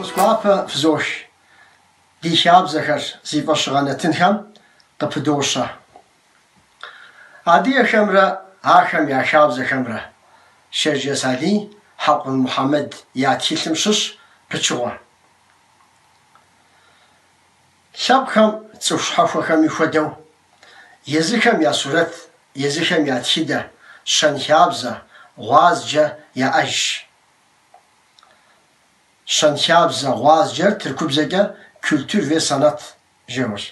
Фӏэхъус гуапэ фызох. Ди хабзэхэр зи фӏэщыгъэ нэтынхэм къыпыдощэ. Адыгэхэмрэ ахэм я хабзэхэмрэ, Шэрджэс Алий, Хьэкъун Мухьэмэд я тхылъым щыщ пычыгъуэ. Лъэпкъхэм, цӏыху щхьэхуэхэми хуэдэу, езыхэм я сурэт, езыхэм я тхыдэ, щэнхабзэ, гъуазджэ яӏэжщ. Щэнхабзэ, гъуазджэр тыркубзэкӏэ культур ве санат Жэуащ.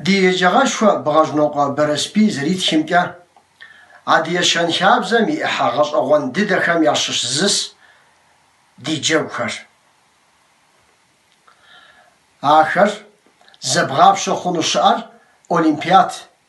Ди еджагъэшхуэ Бгъэжнокъуэ Бэрэсбий зэритхымкӏэ, Адыгэ щэнхабзэм и ӏыхьэ гъэщӏэгъуэн дыдэхэм ящыщ зыщ ди джэгухэр. Ахэр зэбгъапщэ хъуну щыӏэр олимпиад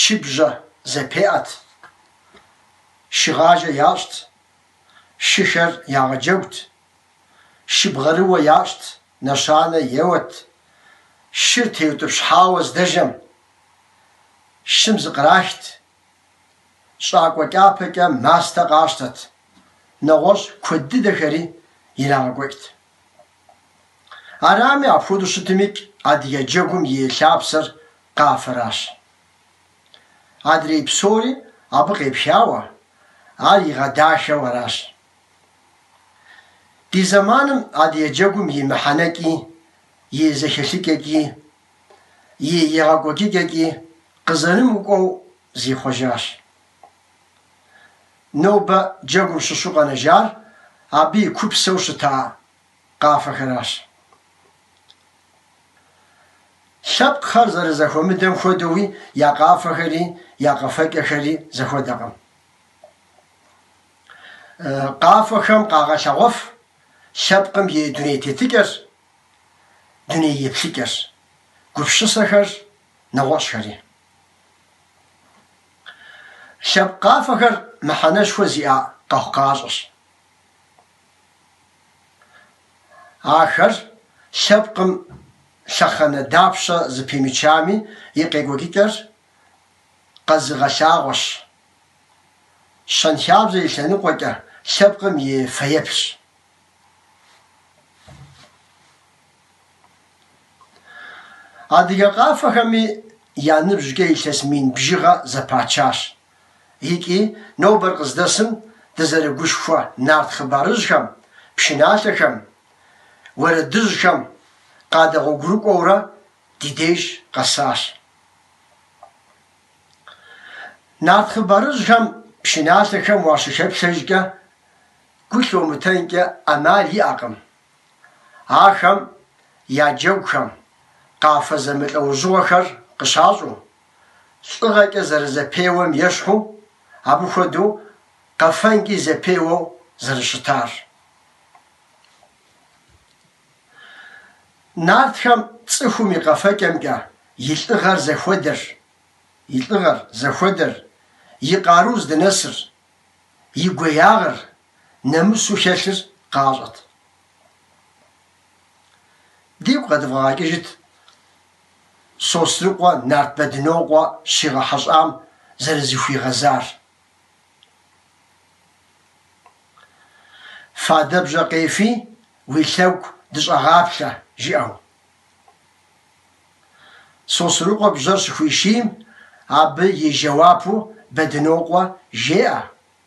чыбжьэ зэпеӏэт, шыгъажэ ящӏт, шыхэр ягъэджэгут, шыбгъэрыуэ ящӏт, нэщанэ еуэт, шыр теутӏыпщхьауэ здэжэм, шым зыкърахт, щӏакӏуэ кӏапэкӏэ мастэ къащтэт, нэгъуэщӏ куэд дыдэхэри ирагъэкӏуэкӏт. Арами, апхуэдэу щытымикӏ, адыгэ джэгум и лъапсэр къафэращ. Адрей псори абы къепхауэ, ар игъэдахэу аращ. Ди зэманым адыгэ джэгум и мыхьэнэкӏи, и зэхэлъыкӏэкӏи, и егъэкӏуэкӏыкӏэкӏи къызэрымыкӏуэу зихъуэжащ. Нобэ джэгум щыщу къэнэжар абы и купсэу щыта къафэхэращ. Лъэпкъхэр зэрызэхуэмыдэм хуэдэуи я къафэхэри, я къэфэкӏэхэри зэхуэдэкъым. Къафэхэм къагъэлъэгъуэф лъэпкъым и дуней тетыкӏэр, дуней еплъыкӏэр, гупсысэхэр, нэгъуэщӏхэри. Лъэпкъ къафэхэр мыхьэнэшхуэ зиӏэ къэхъукъащӏэщ. Ахэр лъэпкъым лъэхъэнэ дапщэ зыпимычами, и къекӏуэкӏыкӏэр къэзыгъэлъагъуэщ. Щэнхабзэ и лъэныкъуэкӏэ лъэпкъым и фэеплъщ. Адыгэ къафэхэми я ныбжькӏэ илъэс мин бжыгъэ зэпачащ. икӏи нобэр къыздэсым дызэрыгушхуэ нарт хъыбарыжьхэм, пшыналъэхэм, уэрэдыжьхэм къадэгъуэгурыкӏуэурэ ди деж къэсащ. Нарт хъыбарыжьхэм, пшыналъэхэм уащыхэплъэжкӏэ гу лъумытэнкӏэ ӏэмал иӏэкъым. Ахэм я джэгухэм къафэ зэмылӏэужьыгъуэхэр къыщащӏу, лӏыгъэкӏэ зэрызэпеуэм ещхьу, абы хуэдэу къэфэнкӏи зэпеуэу зэрыщытар. Нартхэм цӏыхум и къэфэкӏэмкӏэ и лӏыгъэр зыхуэдэр, и лӏыгъэр зыхуэдэр, и къару здынэсыр, и гуеягъыр нэмысу хэлъыр къащӏэт. Дигу къэдывгъэгъэкӏыжыт Сосрыкъуэ нарт Бэдынокъуэ щигъэхьэщӏам зэрызыхуигъэзар. Фадэбжьэ къефи, уи лъэгу дыщӏэгъаплъэ, жиӏэу. Сосрыкъуэ бжьэр щыхуишийм, абы и жэуапу Бэдынокъуэ жеӏэ.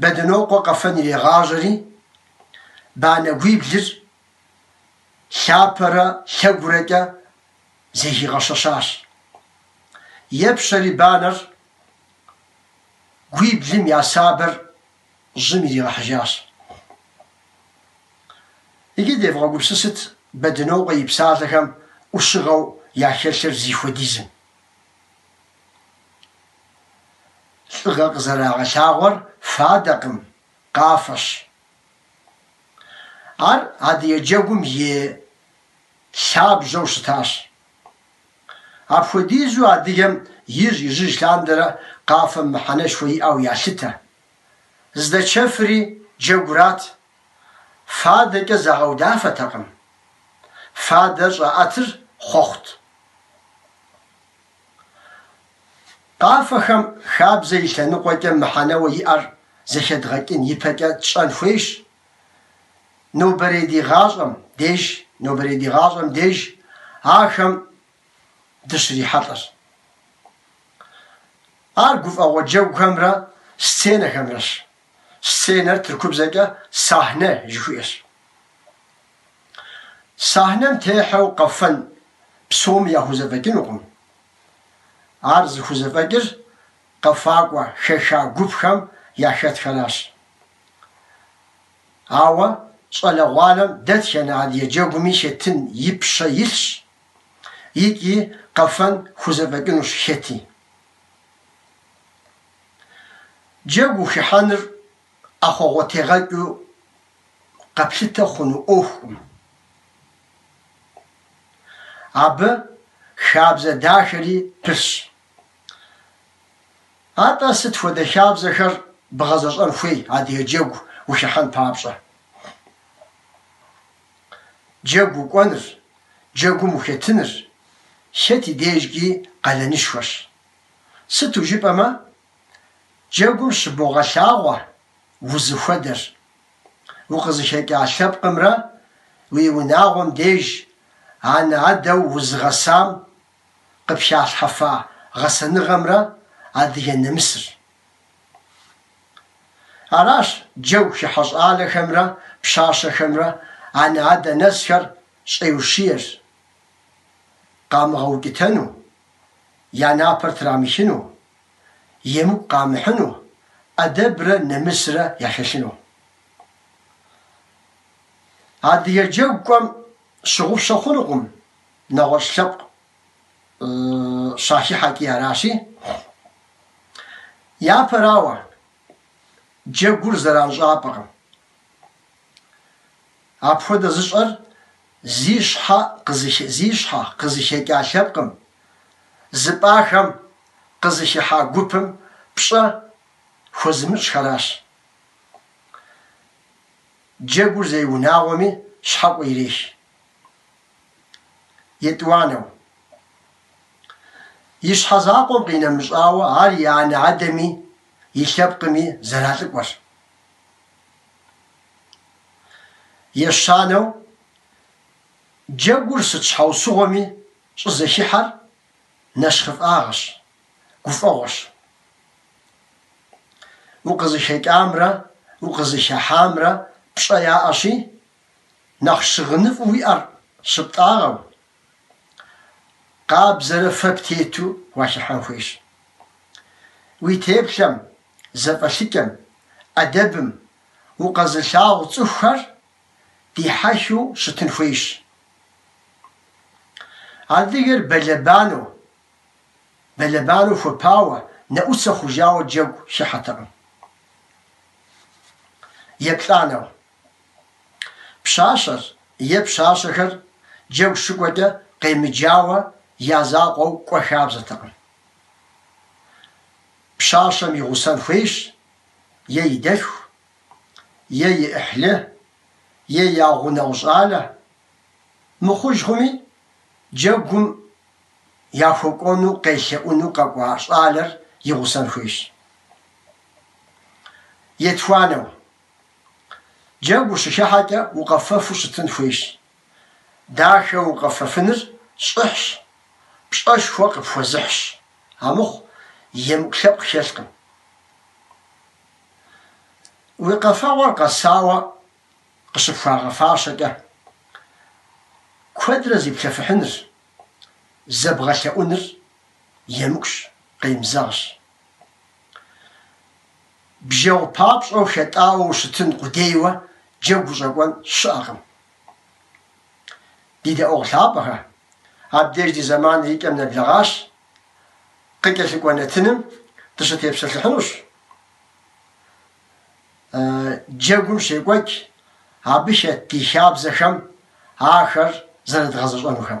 Бэдынокъуэ къэфэн ирегъажьэри, банэгуиблыр лъапэрэ лъэгурэкӏэ зэхигъэщэщащ. Епщэри банэр гуиблым я сабэр жьым иригъэхьыжащ. Иджы девгъэгупсысыт Бэдынокъуэ и псалъэхэм ӏущыгъэу яхэлъыр зыхуэдизым. Лӏыгъэ къызэрагъэлъагъуэр фадэкъым, къафэщ. Ар адыгэ джэгум и лъабжьэу щытащ. Апхуэдизу адыгэм ижь-ижьыж лъандэрэ къафэм мыхьэнэшхуэ иӏэу ялъытэ. Здэчэфри джэгурат, фадэкӏэ загъэудафэтэкъым. Фадэ щӏаӏэтыр хъуэхъут. Къафэхэм хабзэ и лъэныкъуэкӏэ мыхьэнэуэ иӏэр зэхэдгъэкӏын ипэкӏэ тщӏэн хуейщ нобэрей ди гъащӏэм деж, нобэрей ди гъащӏэм деж ахэм дыщрихьэлӏэр. Ар гуфӏэгъуэ джэгухэмрэ сценэхэмрэщ, сценэр тыркубзэкӏэ сахне жыхуиӏэщ. Сэхьнэм техьэу къэфэн псоми яхузэфӏэкӏынукъым. Ар зыхузэфӏэкӏыр къэфакӏуэ хэха гупхэм яхэтхэращ. Ауэ щӏалэгъуалэм дэтхэнэ адыгэ джэгуми хэтын и пщэ илъщ икӏи къэфэн хузэфӏэкӏынущ хэти. Джэгу ухыхьэныр ӏэхъуэгъуэтегъэкӏыу къэплъытэ хъуну ӏуэхукъым. Абы хабзэ дахэри пылъщ. Атӏэ сыт хуэдэ хабзэхэр бгъэзэщӏэн хуей адыгэ джэгу ухыхьэн папщӏэ? Джэгу укӏуэныр, джэгум ухэтыныр, хэт и дежкӏи къалэнышхуэщ. Сыту жыпӏэмэ, Джэгум щыбогъэлъагъуэ узыхуэдэр. Укъызыхэкӏа лъэпкъымрэ уи унагъуэм деж анэ-адэу узыгъэсам къыпхалъхьэфа гъэсэныгъэмрэ адыгэ нэмысыр. Аращ джэгу хыхьэ щӏалэхэмрэ пщащэхэмрэ анэ-адэ нэсхэр щӏеущиер, къамыгъэукӏытэну, я напэр трамыхыну. емыкӏу къамыхьыну, ӏэдэбрэ нэмысрэ яхэлъыну. Адыгэ джэгу кӏуэм щыгъупщэ хъунукъым нэгъуэщӏ лъэпкъ щахыхьэкӏи аращи, япэрауэ, джэгур зэранщӏапӏэкъым. Апхуэдэ зыщӏэр зи щхьэ къызыхэкӏа лъэпкъым, зыпӏахэм къызыхыхьа гупым пщӏэ хуэзымыщӏхэращ. Джэгур зей унагъуэми щхьэкӏуэ ирех. Етӏуанэу. И щхьэ закъуэм къинэмыщӏауэ, ар и анэ-адэми, и лъэпкъми зэралӏыкӏуэр. Ещанэу, джэгур сыт щхьэусыгъуэми щӏызэхыхьэр нэщхъыфӏагъэщ, гуфӏэгъуэщ. Укъызыхэкӏамрэ укъызыхыхьамрэ пщӏэ яӏэщи, нэхъ щыгъыныфӏу уиӏэр щыптӏагъэу, къабзэрэ фэ птету уахыхьэн хуейщ. Уи теплъэм, зэфӏэлъыкӏэм, ӏэдэбым, укъэзылъагъу цӏыхухэр дихьэхыу щытын хуейщ. Адыгэр бэлэбанэу, бэлэбанэу хуэпауэ, нэӏуцэ хъужауэ джэгу хыхьэтэкъым. Еплӏанэу. Пщащэр е пщащэхэр джэгу щыкӏуэкӏэ къемыджауэ я закъуэу кӏуэ хабзэтэкъым. Пщащэм и гъусэн хуейщ е и дэлъху, е и ӏыхьлы, е я гъунэгъу щӏалэ. Мыхъуж хъуми, джэгум яхуэкӏуэну къелъэӏуну къэкӏуа щӏалэр и гъусэн хуейщ. Етхуанэу, джэгу ущыхыхьэкӏэ укъэфэфу щытын хуейщ. Дахэ укъэфэфыныр щӏыхьщ, пщӏэшхуэ къыпхуэзыхьщ, амыхъу, емыкӏу лъэпкъ хэлъкъым. Уи къэфэгъуэр къэсауэ къыщыпхуагъэфащэкӏэ, куэдрэ зиплъэфыхьыныр, зэбгъэлъэӏуныр емыкӏущ, къемызэгъщ. Бжьэгъу папщӏэу хэтӏауэ ущытын къудейуэ джэгу ущӏэкӏуэн щыӏэкъым. Ди дэӏуэгъу лъапӏэхэ, абдеж ди зэманыр и кӏэм нэблэгъащ, къыкӏэлъыкӏуэ нэтыным дыщытепсэлъыхьынущ джэгум щекӏуэкӏ абы хэт ди хабзэхэм ахэр зэрыдгъэзэщӏэнухэм.